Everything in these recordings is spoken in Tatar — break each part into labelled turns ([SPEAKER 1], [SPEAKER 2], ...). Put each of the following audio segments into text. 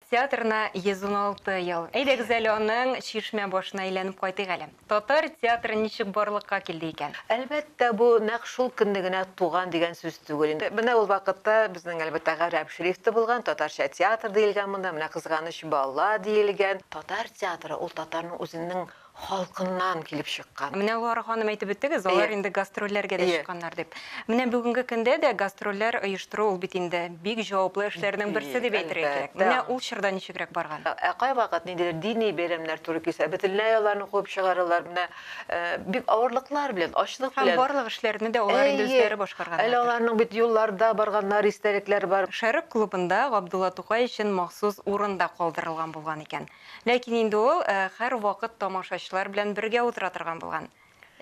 [SPEAKER 1] Театрына 116 ел. Әйдәгез әле аның Чишмә башына әйләнеп кайтыйк әле. Татар театры ничек барлыкка килде икән? Әлбәттә, бу
[SPEAKER 2] нәкъ шул көнне генә туган дигән сүз түгел инде. Менә ул вакытта безнең, әлбәттә, гарәп шрифт та булган, татарча театр диелгән монда, менә кызганыч бала диелгән. Татар театры, ул татарның үзенең халкыннан килеп чыккан. Менә Луара ханым әйтеп
[SPEAKER 1] үттегез, алар инде гастрольләргә дә чыкканнар дип. Менә бүгенге көндә дә гастрольләр оештыру ул бит инде бик җаваплы эшләрнең берсе дип әйтергә кирәк. Менә ул чорда ничегрәк барган? Ә кайвакыт ниндидер
[SPEAKER 2] дини бәйрәмнәр туры килсә, бөтенләй аларны куып чыгаралар. Менә бик авырлыклар белән, ачлык белән. Һәм барлык эшләрне дә алар
[SPEAKER 1] инде үзләре башкарганнар. Әйе, әле аларның бит
[SPEAKER 2] юлларда барганнар, истәлекләр бар. Шәрык клубында
[SPEAKER 1] Габдулла Тукай өчен махсус урын да калдырылган булган икән. Ләкин инде ул һәрвакыт тамашачылар белән бергә утыра торган булган.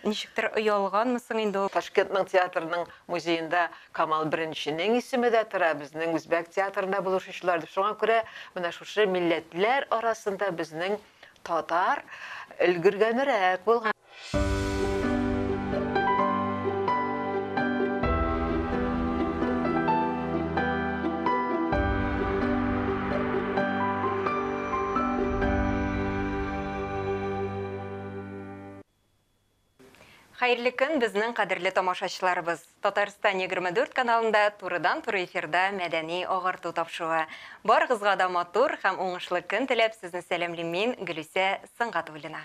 [SPEAKER 1] Ничектер оялганмы соң инде ул. Ташкентның театрының
[SPEAKER 2] музеенда Камал Беренченең исеме дә тора, безнең үзбәк театрында булышучылар дип. Шуңа күрә менә шушы милләтләр арасында безнең татар өлгергәнрәк булган.
[SPEAKER 1] Хәерле көн, безнең кадерле тамашачыларыбыз! Татарстан 24 каналында турыдан-туры эфирда мәдәни агарту тапшыруы. Барыгызга да матур һәм уңышлы көн теләп, сезне сәламлим мин, Гөлүсә Сөнгатуллина.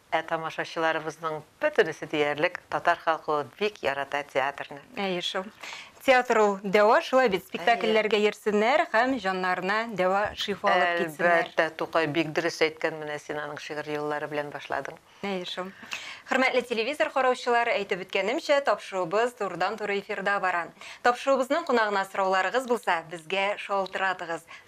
[SPEAKER 2] Ә тамашачыларыбызның бөтенесе диярлек татар халкы ул бик ярата театрны. Әйе шул.
[SPEAKER 1] Театр ул дәва, шулай бит, спектакльләргә йөрсеннәр һәм җаннарына дәва, шифа алып китсеннәр. Әлбәттә, Тукай бик
[SPEAKER 2] дөрес әйткән, менә син аның шигырь юллары белән башладың. Әйе шул.
[SPEAKER 1] Хөрмәтле телевизор караучылар, әйтеп үткәнемчә, тапшыруыбыз турыдан-туры эфирда бара. Тапшыруыбызның кунагына сорауларыгыз булса, безгә шалтыратыгыз.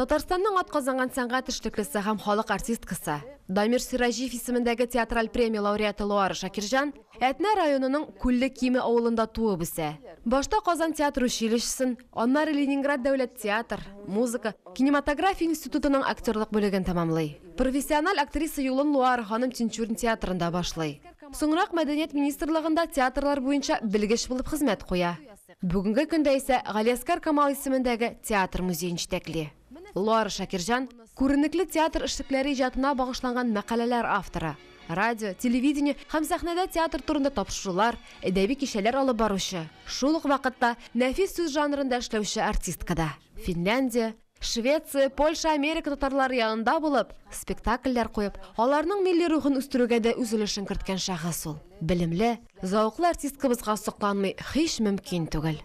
[SPEAKER 1] Татарстанның
[SPEAKER 3] атказанган сәнгать эшлеклесе һәм халык артисткасы, Дамир Сираҗиев исемендәге театраль премия лауреаты Луара Шакирҗан Әтнә районының Күлле Киме авылында туып үсә. Башта Казан театр училищесын, аннары Ленинград дәүләт театр, музыка, кинематография институтының актерлык бүлеген тәмамлый. Профессиональ актриса юлын Луара ханым Тинчурин театрында башлый. Соңрак Мәдәният министрлыгында театрлар буенча белгеч булып хезмәт куя. Бүгенге көндә исә Галиәскар Камал исемендәге театр музеен җитәкли. Лара Шакирҗан, күренекле театр эшлекләре иҗатына багышланган мәкаләләр авторы, радио, телевидение һәм сәхнәдә театр турында тапшырулар, әдәби кичәләр алып баручы, шул ук вакытта нәфис сүз жанрында эшләүче артистка да. Финляндия, Швеция, Польша, Америка татарлары янында булып, спектакльләр куеп, аларның милли рухын үстерүгә дә үз өлешен керткән шәхес ул. Белемле, зәвыклы артисткабызга сокланмый һич мөмкин түгел.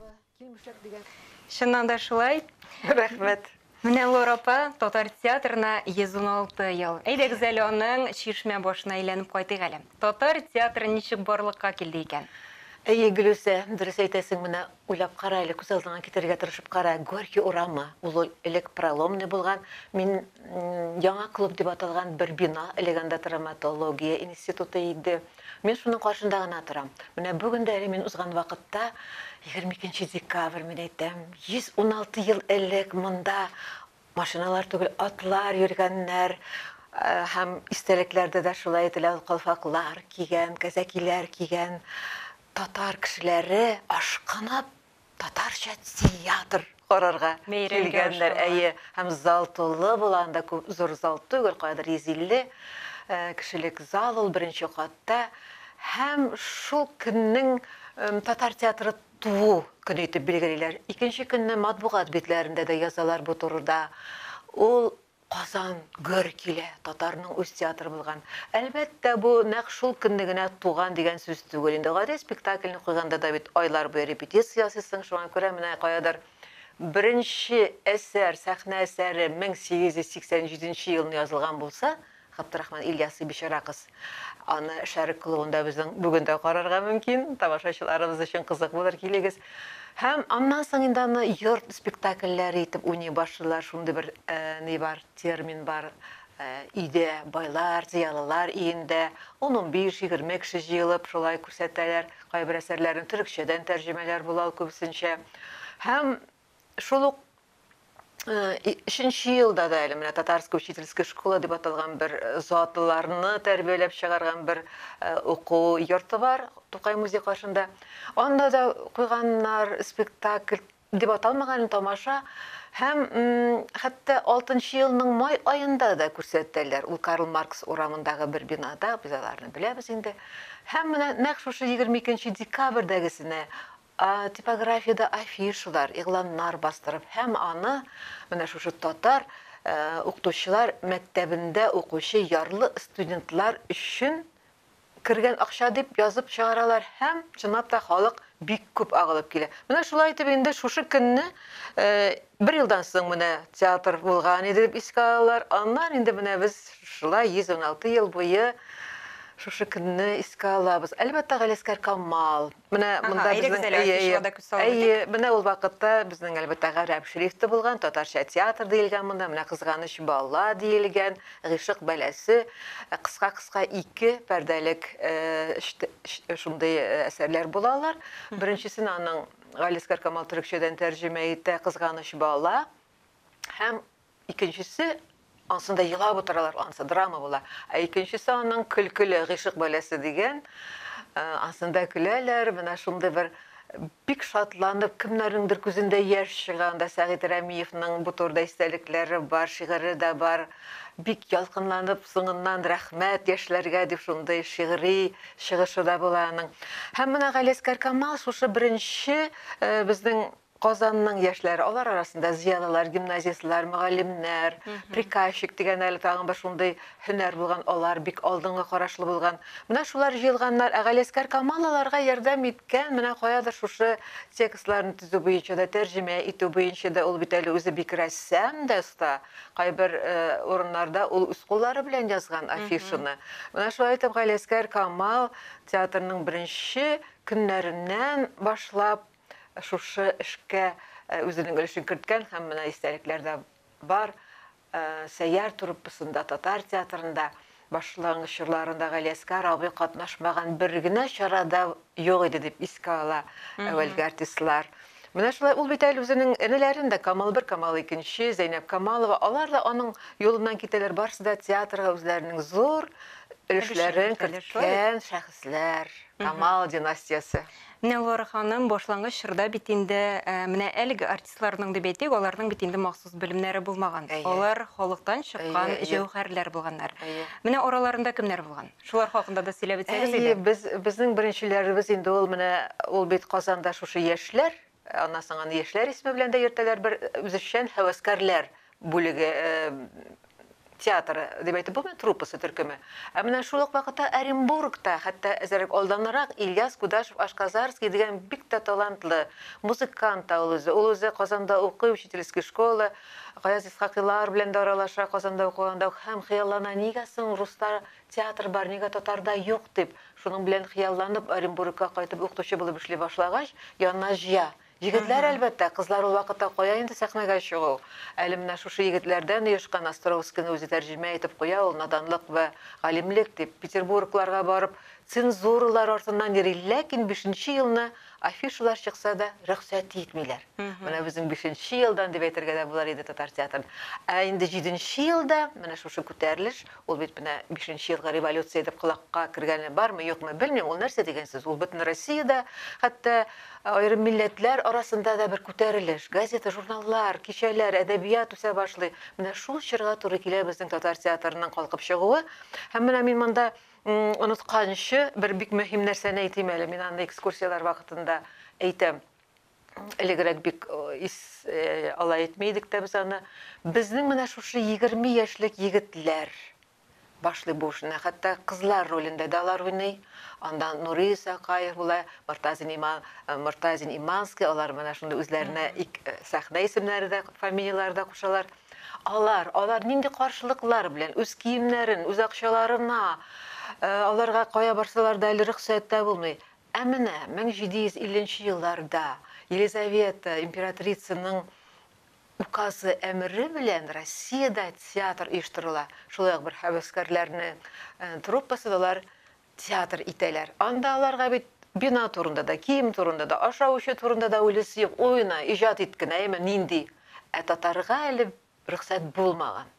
[SPEAKER 1] Чыннан да шулай. Рәхмәт.
[SPEAKER 2] Менә Лор
[SPEAKER 1] апа татар театрына 116 ел. Әйдәгез әле аның Чишмә башына әйләнеп кайтыйк әле. Татар театры ничек барлыкка килде икән? Әйе, Гөлүсә,
[SPEAKER 2] дөрес әйтәсең, менә Уйлап кара әле, күз алдыңа китерергә тырышып кара, Горький урамы, ул элек Проломный булган, мин Яңа клуб дип аталган бер бина, элек анда травматология институты иде. Мин шуның каршында гына торам. Менә бүген дә әле мин узган вакытта, егерме икенче декабрь, мин әйтәм, 116 ел элек монда машиналар түгел, атлар йөргәннәр, һәм истәлекләрдә дә шулай әйтелә, ул калфаклар кигән, кәзәкиләр кигән, Татар кешеләре ашкынып татарча театр карарга килгәннәр,
[SPEAKER 1] әйе,
[SPEAKER 2] һәм
[SPEAKER 1] зал
[SPEAKER 2] тулы була, анда күп зур зал түгел, каядыр 150 кешелек зал ул беренче катта, һәм шул көннең татар театры туу көне итеп билгелиләр. Икенче көнне матбугат битләрендә дә язалар бу турыда. Ул Казан гөр килә, татарның үз театры булган. Әлбәттә, бу нәкъ шул көнне генә туган дигән сүз түгел инде. Гади спектакльне куйганда да бит айлар буе репетиция ясыйсың, шуңа күрә менә каядыр беренче әсәр, сәхнә әсәре 1887 елны язылган булса, Габдрахман Ильясы бичара кыз. Аны Шәрык клубында безнең бүген дә карарга мөмкин. Тамашачыларыбыз өчен кызык булыр, килегез. Һәм аннан соң инде аны йорт спектакльләре итеп уйный башлыйлар. Шундый бер ни бар, термин бар, өйдә, байлар, зыялылар өендә ун-унбиш, егерме кеше җыелып, шулай күрсәтәләр кайбер әсәрләрен. Төрекчәдән тәрҗемәләр була ул күбесенчә. Һәм Шул ук өченче елда да әле менә татарская учительская школа дип аталган бер затлыларны тәрбияләп чыгарган бер уку йорты бар Тукай музей каршында. Анда да куйганнар спектакль дип аталмаган тамаша һәм хәтта 6 елның май аенда да күрсәтәләр. Ул Карл Маркс урамындагы бер бинада, без аларны беләбез инде. Һәм менә нәкъ шушы 22 декабрьдәгесенә Типографиядә афишалар, игъланнар бастырып һәм аны менә шушы татар укытучылар мәктәбендә укучы ярлы студентлар өчен кергән акча дип язып чыгаралар һәм, чынлап та, халык бик күп агылып килә. Менә шулай итеп инде шушы көнне бер елдан соң менә театр булган иде дип искә алалар. Аннан инде менә без шулай 116 ел буе шушы көнне искә алабыз. Әлбәттә, Галиәскәр Камал Менә Ага, монда әйдәгез безнең әле, әйе, әйе. Альфишева да күз салып Әйе, үтик. менә ул вакытта безнең әлбәттә гарәп шрифты булган, татарча театр диелгән монда, менә кызганыч бала диелгән, гыйшык бәласе, э, кыска-кыска ике пәрдәлек э, шт- ш- шундый э, әсәрләр була алар. Беренчесен аның Галискар Камал төрекчәдән тәрҗемә итә, кызганыч бала. Һәм Икенчесе, Ансында елап утыралар, ансы драма була. Ә икенчесе аның көлкеле гыйшык бәләсе дигән. Ансында көләләр, менә шундый бер бик шатланып, кемнәрнеңдер күзендә яшь чыга. Анда Сәгыйть Рәмиевның бу турыда истәлекләре бар, шигыре дә бар. Бик ялкынланып, соңыннан рәхмәт яшьләргә дип шундый шигъри чыгышы да була аның. Һәм менә Галиәскәр Камал шушы беренче безнең Казанның яшьләре, алар арасында зыялылар, гимназистлар, мөгаллимнәр, приказчик дигән әле тагын бер шундый һөнәр булган, алар бик алдынгы карашлы булган. Менә шулар җыелганнар, ә Галиәскәр Камал аларга ярдәм иткән, менә каядыр шушы текстларны төзү буенча да, тәрҗемә итү буенча да, ул бит әле үзе бик рәссам да оста, кайбер урыннарда ул үз куллары белән язган афишаны. Менә шулай итеп Галиәскәр Камал театрның беренче көннәреннән башлап, шушы эшкә үзенең өлешен керткән һәм менә истәлекләр дә бар. Сәйяр труппасында, татар театрында башлангыч чорларында Галиәскар абый катнашмаган бер генә чарада юк иде дип искә ала әүвәлге артистлар. Менә шулай ул бит әле үзенең энеләрен дә Камал бер, Камал икенче, Зәйнәп Камалова, алар да аның юлыннан китәләр, барысы да театрга үзләренең зур өлешләрен керткән шәхесләр, Камал династиясе. Нелвара ханым,
[SPEAKER 1] башлангыч чорда бит инде менә әлеге артистларның дип әйтик, аларның бит инде махсус белемнәре булмаган. Алар халыктан чыккан җәүһәрләр булганнар. Менә араларында кемнәр булган? Шулар хакында да сөйләп үтсәгез иде. Әйе, без, безнең беренчеләребез
[SPEAKER 2] инде ул менә ул бит Казанда шушы яшьләр, аннан соң аны яшьләр исеме белән дә йөртәләр, бер үзешчән һәвәскәрләр бүлеге, театры дип әйтеп булмый, труппасы төркеме. Ә менә шул ук вакытта Оренбургта, хәтта әзерәк алданрак Ильяс Кудашев Ашказарский дигән бик тә талантлы музыкант та ул үзе. Ул үзе Казанда укый, учительский школа, Гаяз Исхакыйлар белән дә аралаша Казанда укыганда ук һәм хыяллана, нигә соң руста театр бар, нигә татарда юк дип, шуның белән хыялланып Оренбургка кайтып укытучы булып эшли башлагач, янына җыя. Егетләр, әлбәттә, кызлар ул вакытта кая инде сәхнәгә чыгу. Әле менә шушы егетләрдән оешкан Островскийны үзе тәрҗемә итеп куя ул, наданлык вә галимлек дип, Петербургларга барып, цензуралар артыннан йөри, ләкин бишенче елны афишалар чыкса да, рөхсәт итмиләр. Менә безнең бишенче елдан дип әйтергә дә булыр иде татар театрын. Ә инде җиденче елда, менә шушы күтәрелеш, Ул бит менә бишенче елгы революция дип колакка кергәне бармы, юкмы, белмим, ул нәрсә дигән сүз? Ул бөтен Россиядә, хәтта аерым милләтләр арасында да бер күтәрелеш. Газета, журналлар, кичәләр, әдәбият үсә башлый. Менә шул чорга туры килә безнең татар театрының калкып чыгуы. Һәм менә мин монда онытканчы бер бик мөһим нәрсәне әйтим әле, мин аны экскурсияләр вакытында әйтәм. Элегрәк бик ис алай итми идек тә без аны. Безнең менә шушы егерме яшьлек егетләр башлый бу эшне. Хәтта кызлар ролендә дә алар уйный. Анда Нури Исакаев була, Мортазин Има, Мортазин Иманский, алар менә шундый үзләренә ик сәхнә исемнәре дә, фамилияләре дә кушалар. Алар, алар нинди каршылыклар белән, үз киемнәрен, үз акчаларына, аларга кая барсалар да әле рөхсәт тә булмый. Ә менә 1750 нче елларда Елизавета императрицаның указы, әмере белән Россиядә театр оештырыла, шулай ук бер һәвәскәрләрнең труппасы да алар театр итәләр. Анда аларга бит бина турында да, кием турында да, ашау-эчү турында да уйлыйсы юк, уйна, иҗат ит кенә, әйеме, нинди? Ә татарга әле Рөхсәт булмаган.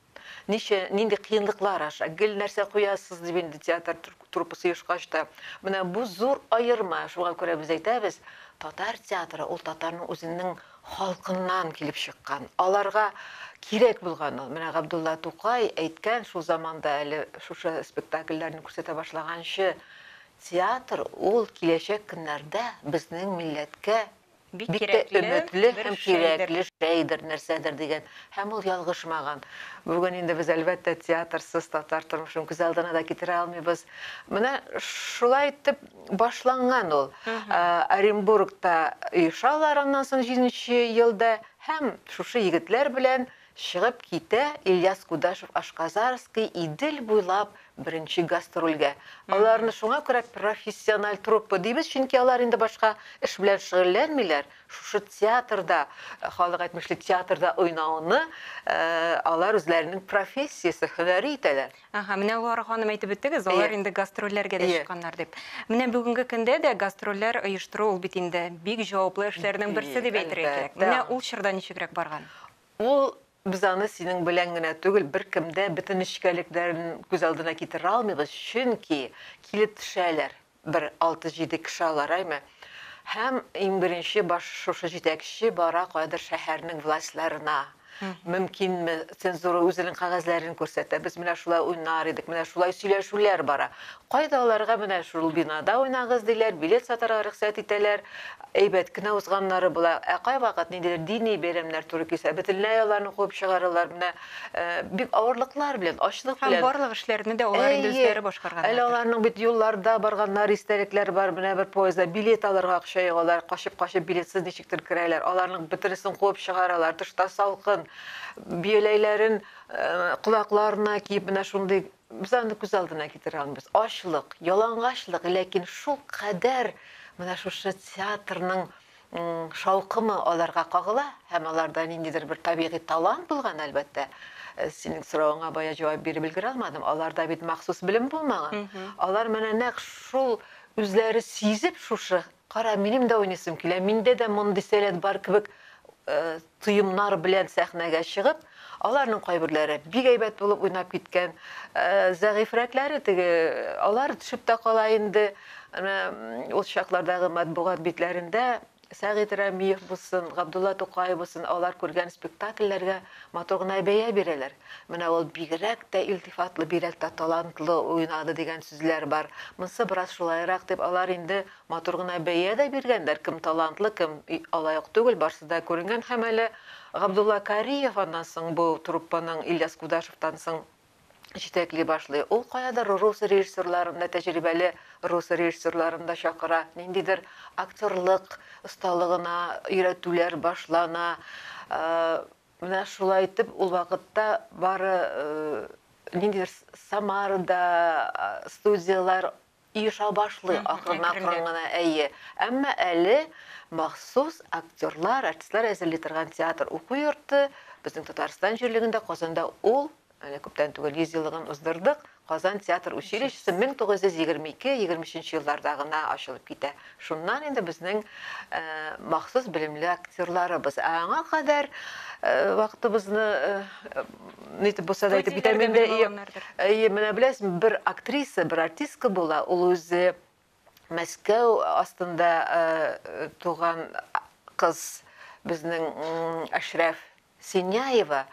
[SPEAKER 2] Ничә, нинди кыенлыклар аша, гел нәрсә куясыз, дип инде театр труппасы оешкач та. Менә бу зур аерма, шуңа күрә без әйтәбез, татар театры ул татарның үзенең халкыннан килеп чыккан, аларга кирәк булган ул. Менә Габдулла Тукай әйткән шул заманда әле шушы спектакльләрне күрсәтә башлаганчы, Театр ул киләчәк көннәрдә безнең милләткә, Бик тә өметле һәм кирәкле шәйдер, нәрсәдер дигән. Һәм ул ялгышмаган. Бүген инде без, әлбәттә, театрсыз татар тормышын күз алдына да китерә алмыйбыз. Менә шулай итеп башланган ул. Оренбургта оешалар аннан соң җиденче елда һәм шушы егетләр белән Чыгып китә Ильяс Кудашев Ашказарский Идел буйлап беренче гастрольгә. Аларны шуңа күрә профессиональ труппа дибез, чөнки алар инде башка эш белән шөгыльләнмиләр, шушы театрда, халык әйтмешли, театрда уйнауны алар үзләренең профессиясе, һөнәре итәләр. Ага, менә Луара ханым
[SPEAKER 1] әйтеп үттегез, алар инде гастрольләргә дә чыкканнар дип. Менә бүгенге көндә дә гастрольләр оештыру ул бит инде бик җаваплы эшләрнең берсе дип әйтергә кирәк. Менә ул чорда ничегрәк барган? Ул
[SPEAKER 2] без аны синең белән генә түгел, беркем дә бөтен нечкәлекләрен күз алдына китерә алмыйбыз, чөнки килеп төшәләр. бер алты-җиде кеше алараймы? Һәм иң беренче баш шушы җитәкче бара каядыр шәһәрнең властьларына. Мөмкинме, цензура үзенең кәгазьләрен күрсәтә, без менә шулай уйнар идек, менә шулай сөйләшүләр бара. Кайда аларга менә шул бинада уйнагыз диләр, билет сатарга рөхсәт итәләр, әйбәт кенә узганнары була. Ә кайвакыт ниндидер дини бәйрәмнәр туры килсә, бөтенләй аларны куып чыгаралар. Менә бик авырлыклар белән, ачлык белән. Һәм барлык эшләрне дә алар
[SPEAKER 1] инде үзләре башкарганнар. Әле аларның бит юлларда
[SPEAKER 2] барганнар, истәлекләр бар, менә бер поездда билет алырга акча юк, алар качып-качып билетсыз ничектер керәләр, аларның бөтенесен куып чыгаралар, тышта салкын, бияләйләрен колакларына киеп, менә шундый без аны күз алдына китерә алмыйбыз. Ачлык, ялангачлык, ләкин шул кадәр менә шушы театрның шаукымы аларга кагыла һәм аларда ниндидер бер табигый талант булган, әлбәттә. Синең соравыңа бая җавап биреп өлгерә алмадым. Аларда бит махсус белем булмаган. Алар менә нәкъ шул үзләре сизеп шушы, кара, минем дә уйныйсым килә, миндә дә мондый сәләт бар кебек Тоемнар белән сәхнәгә чыгып, аларның кайберләре бик әйбәт булып уйнап киткән, зәгыйфьрәкләре теге, алар төшеп тә кала инде, әнә ул чаклардагы матбугат битләрендә Сәгыйть Рәмиев булсын, Габдулла Тукай булсын, алар күргән спектакльләргә матур гына бәя бирәләр. Менә ул бигрәк тә илтифатлы, бигрәк тә талантлы уйнады дигән сүзләр бар. Монсы бераз шулайрак дип, алар инде Матур гына бәя дә биргәннәр, кем талантлы, кем алай ук түгел, барсы да күренгән һәм әле Габдулла Кариев аннан соң бу труппаның Ильяс Кудашевтан соң җитәкли башлый. Ул каядыр рус режиссерларын да, тәҗрибәле рус режиссерларын да чакыра, ниндидер актерлык осталыгына өйрәтүләр башлана. Менә шулай итеп ул вакытта бары ниндидер Самарада студияләр Иша башлый акрынакрын гына, әйе. Әмма әле махсус актерлар, артистлар әзерли торган театр уку йорты безнең Татарстан җирлегендә, Казанда ул, әнә күптән түгел 100 еллыгын уздырдык, Казан театр училищесы 1922-23 елларда гына ачылып китә. Шуннан инде безнең махсус белемле актерларыбыз. Ә аңа кадәр вакытыбызны нитеп булса да итеп бетә инде. Әйе, менә беләсең, бер актриса, бер артистка була, ул үзе Мәскәү астында туган кыз безнең Әшрәф Синяева,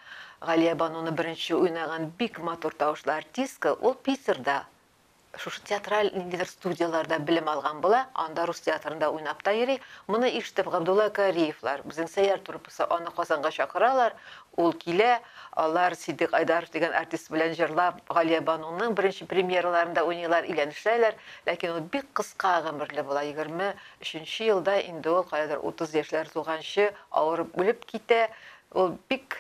[SPEAKER 2] Галия Бануны беренче уйнаган бик матур тавышлы артистка, ул Питерда Шушы театраль ниндидер студияләрдә белем алган була, анда рус театрында уйнап та йөри. Моны ишетеп, Габдулла Кариевлар, безнең Сәйяр труппасы, аны Казанга чакыралар. Ул килә, алар Ситдыйк Айдаров дигән артист белән җырлап, Галиябануның беренче премьераларында уйныйлар, өйләнешәләр. Ләкин ул бик кыска гомерле була, егерме өченче елда инде ул, каядыр утыз яшьләр тулганчы, авырып үлеп китә. Ул бик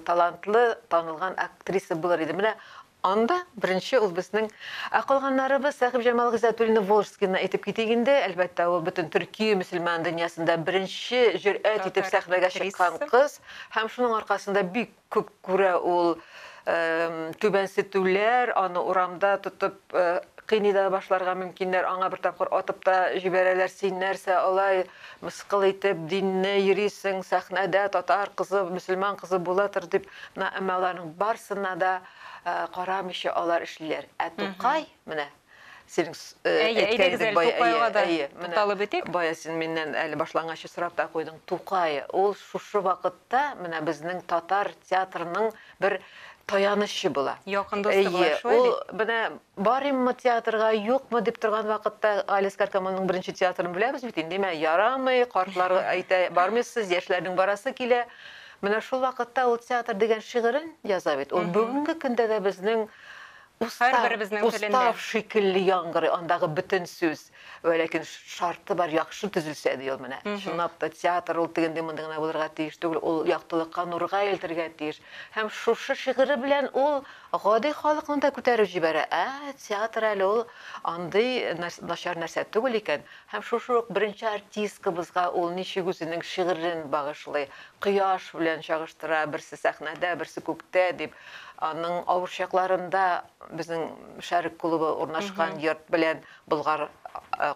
[SPEAKER 2] талантлы, танылган актриса булыр иде. Менә Анда, беренче, ул безнең. Ә калганнарыбыз, Сәхибҗамал Гыйззәтуллина Волжскийны әйтеп китик инде, әлбәттә, ул бөтен төрки мөселман дөньясында беренче җөрьәт итеп сәхнәгә чыккан кыз һәм шуның аркасында бик күп күрә ул түбәнсетүләр, аны урамда тотып кыйный да башларга мөмкиннәр, аңа бер тапкыр атып та җибәрәләр, син нәрсә алай мыскыл итеп динне йөрисең, сәхнәдә татар кызы, мөселман кызы була тор дип. Менә әмма аларның барсына да карамыйча алар эшлиләр. Ә Тукай, менә синең әйткәнең бая, әйе, тукталып үтик. Бая син миннән әле башлангычы сорап та куйдың. Тукай, ул шушы вакытта менә безнең татар театрының бер таянычы була. Якын дусты була, шулай бит?
[SPEAKER 1] Ул менә
[SPEAKER 2] барыйммы театрга, юкмы дип торган вакытта Галис Каркамонның беренче театрын беләбез бит инде. Димә, ярамый, картлар әйтә, бармыйсыз, яшьләрнең барасы килә. Менә шул вакытта ул театр дигән шигырен яза бит. Ул бүгенге көндә дә безнең устав, устав шикелле яңгырый андагы бөтен сүз. Вә ләкин шарты бар, яхшы төзелсә, ди ул менә. Чынлап та, театр ул тегенди-мондый гына булырга тиеш түгел, ул яктылыкка, нурга илтергә тиеш. Һәм шушы шигыре белән ул гади халыкны да күтәреп җибәрә. Ә, театр әле ул андый начар нәрсә түгел икән. Һәм шушы ук беренче артисткабызга ул ничек үзенең шигырен багышлый, кояш белән чагыштыра, берсе сәхнәдә, берсе күктә дип, аның авыр чакларында безнең Шәрык клубы урнашкан йорт белән Болгар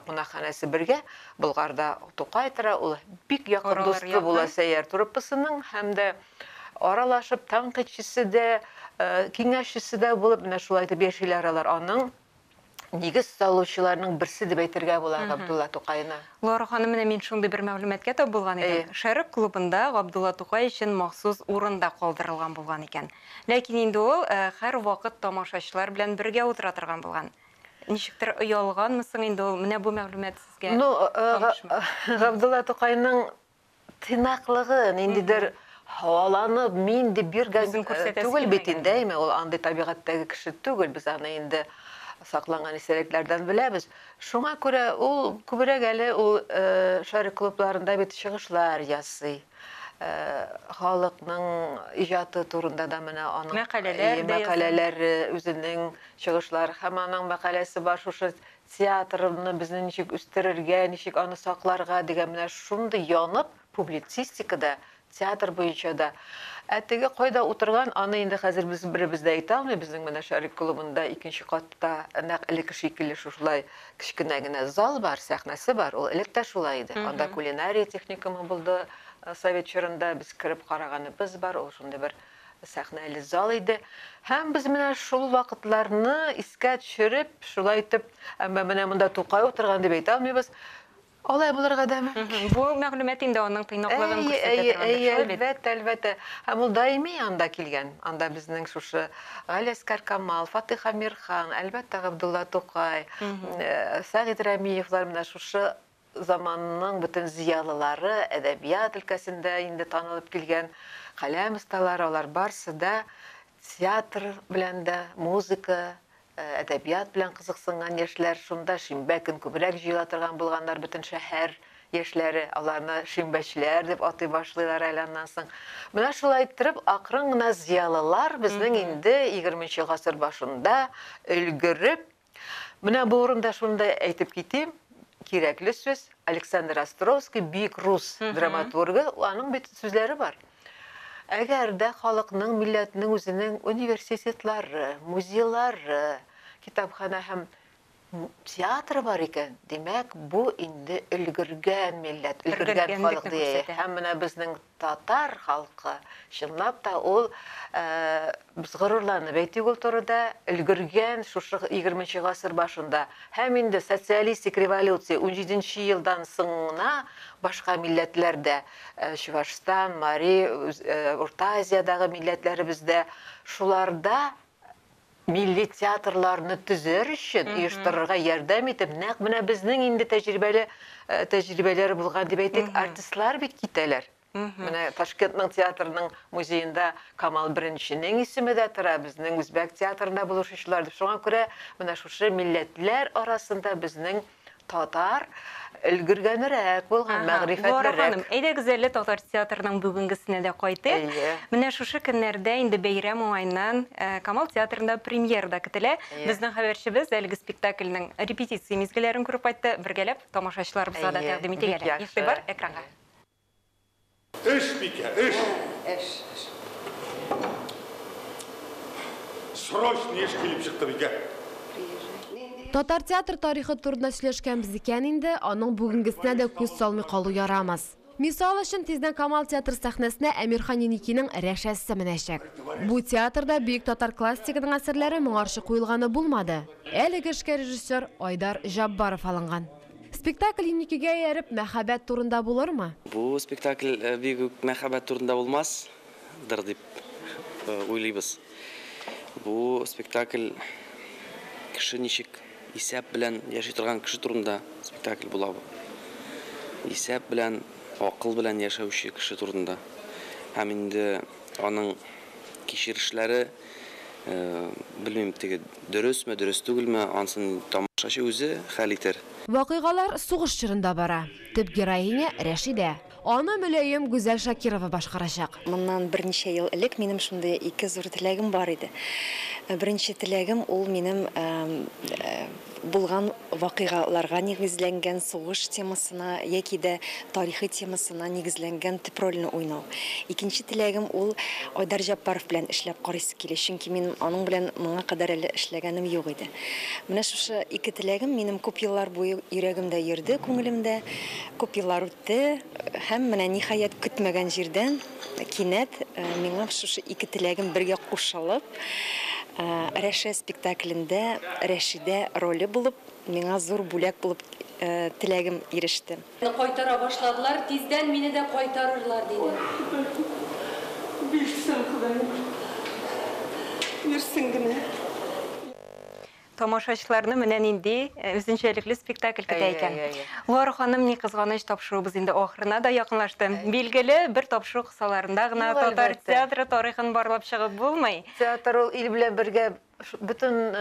[SPEAKER 2] кунакханәсе бергә, Болгарда Тукай тора, ул бик якын дусты була Сәйяр труппасының һәм дә аралашып, тәнкыйтьчесе дә, киңәшчесе дә булып, менә шулай итеп яшиләр алар. Аның нигез салучыларның берсе дип әйтергә була Габдулла Тукайны. Лора ханым, менә мин
[SPEAKER 1] шундый бер мәгълүматка тап булган идем. Шәрык клубында Габдулла Тукай өчен махсус урын да калдырылган булган икән. Ләкин инде ул һәрвакыт тамашачылар белән бергә утыра торган булган. Ничектер оялганмы соң инде ул, менә бу мәгълүмат сезгә танышмы? Ну, Габдулла
[SPEAKER 2] Тукайның тыйнаклыгын, ниндидер һаваланып, мин дип биргән Үзен күрсәтәсе түгел бит килмәгән. инде, әйме, ул андый табигатьтәге кеше түгел, без аны инде сакланган истәлекләрдән беләбез. Шуңа күрә ул күбрәк әле ул э, шарик клубларында бит чыгышлар ясый. Э, Халыкның иҗаты турында да менә аның Мәкаләләр э, дә яза. мәкаләләре, үзенең чыгышлары һәм аның мәкаләсе бар шушы Театрны безне ничек үстерергә, ничек аны сакларга дигән менә шундый янып, публицистика да, театр буенча да. Ә теге кайда утырган, аны инде хәзер без беребез дә әйтә алмый, безнең менә Шәрык клубында икенче катта нәкъ элекке шикелле шушылай кечкенә генә зал бар, сәхнәсе бар, ул элек тә шулай иде. Анда кулинария техникумы булды совет чорында, без кереп караганыбыз бар, ул шундый бер Сәхнәле зал иде. Һәм без менә шул вакытларны искә төшереп, шулай итеп, әмма менә монда Тукай утырган дип әйтә алмыйбыз. Алай булырга да мөмкин. Бу мәгълүмат инде
[SPEAKER 1] аның тыйнаклыгын күрсәтә торгандыр, шулай бит? Әлбәттә, әлбәттә.
[SPEAKER 2] Һәм ул даими анда килгән. Анда безнең шушы Галиәскар Камал, Фатыйх Әмирхан, әлбәттә, Габдулла Тукай, Сәгыйть Рәмиевлар менә шушы Заманның бөтен зыялылары, әдәбият өлкәсендә инде танылып килгән каләм осталары, алар барсы да театр белән дә, музыка, әдәбият белән кызыксынган яшьләр. Шунда шимбә көн күбрәк җыела торган булганнар, бөтен шәһәр яшьләре аларны шимбәчеләр дип атый башлыйлар әле аннан соң. Менә шулай иттереп, акрын гына зыялылар безнең инде егерменче гасыр башында өлгереп, Менә бу урында шуны да әйтеп китим, кирәкле сүз, Александр Островский, бик рус драматургы, аның бит сүзләре бар. Әгәр дә халыкның, милләтнең үзенең университетлары, музейлары, китапхана һәм театры бар икән, димәк, бу инде өлгергән милләт, өлгергән халык дия. Һәм менә безнең Татар халкы, чынлап та ул без горурланып әйтик ул турыда, өлгергән шушы егерменче гасыр башында һәм инде социалистик революция унҗиденче елдан соң гына башка милләтләр дә, Чувашстан, Мари, Урта Азиядагы милләтләребез дә шуларда Милли театрларны төзәр өчен, оештырырга ярдәм итеп, нәкъ менә безнең инде тәҗрибәле тәҗрибәләр булган дип әйтик, артистлар бит китәләр. Менә Ташкентның театрының музеенда Камал Беренченең исеме дә тора, безнең үзбәк театрында булышучылар дип. Шуңа күрә менә шушы милләтләр арасында безнең Татар өлгергәнрәк булган, мәгърифәтлерәк. Лора ханым, әйдәгез әле татар
[SPEAKER 1] театрының бүгенгесенә дә кайтыйк. Менә шушы көннәрдә инде бәйрәм уңаеннан Камал театрында премьера да көтелә. Безнең хәбәрчебез әлеге спектакльнең репетиция мизгелләрен күреп кайтты. Бергәләп тамашачыларыбызга да тәкъдим итик әле. Игътибар экранга.
[SPEAKER 4] Эш, бикә, эш! Ә, эш, эш. Срочный эш килеп чыкты, бикә. Приезжай. Нинди?
[SPEAKER 3] Татар театр тарихы турында сөйләшкәнбез икән инде, аның бүгенгесенә дә күз салмый калу ярамас. Мисал өчен, тиздән Камал театры сәхнәсенә Әмирхан Еникинең Рәшәсе менәчәк. Бу театрда бөек татар классигының әсәрләре моңарчы куелганы булмады. Әлеге эшкә режиссер Айдар Җаббаров алынган. Спектакль инникегә ияреп, мәхәббәт турында булырмы? Бу спектакль
[SPEAKER 5] бик үк мәхәббәт турында булмас дыр дип уйлыйбыз. Бу спектакль кеше ничек исәп белән яши торган кеше турында спектакль була бу. Исәп белән, акыл белән яшәүче кеше турында. Һәм инде аның кичерешләре, Белмим, теге дөресме, дөрес түгелме, ансын тамашачы үзе хәл итер. Вакыйгалар сугыш
[SPEAKER 3] чорында бара. Төп героиня, Рәшидә. Аны мөлаем Гүзәл Шакирова башкарачак. Моннан берничә
[SPEAKER 6] ел элек минем шундый ике зур теләгем бар иде. Беренче теләгем, ул минем Булган вакыйгаларга нигезләнгән сугыш темасына яки дә тарихи темасына нигезләнгән төп рольне уйнау. Икенче теләгем ул Айдар Җәппаров белән эшләп карыйсы килә, чөнки мин аның белән моңа кадәр әле эшләгәнем юк иде. Менә шушы ике теләгем минем күп еллар буе йөрәгемдә йөрде, күңелемдә күп еллар үтте һәм менә ниһаять көтмәгән җирдән, Кинәт миңа шушы ике теләгем бергә кушылып, Рәшә спектаклендә Рәшидә роле булып, миңа зур бүләк булып теләгем иреште. Кайтара башладылар,
[SPEAKER 7] тиздән мине дә кайтарырлар, диде. Ой, Ходаем, бирсен
[SPEAKER 6] Ходаем, бирсен генә.
[SPEAKER 1] Тамашачыларны менә нинди үзенчәлекле спектакль көтә икән. Лора ханым, ни кызганыч, тапшыруыбыз инде ахырына да якынлашты. Билгеле, бер тапшыру кысаларында гына татар театры тарихын барлап чыгып булмый. Театр ул ил белән
[SPEAKER 2] бергә бөтен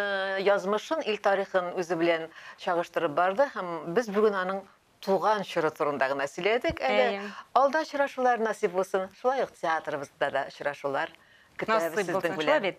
[SPEAKER 2] язмышын, ил тарихын үзе белән чагыштырып барды һәм без бүген аның туган чоры турында гына сөйләдек. Әле алда очрашулар насыйп булсын. Шулай ук театрыбызда да очрашулар көтәбез сезнең белән. Насыйп булсын, шулай бит?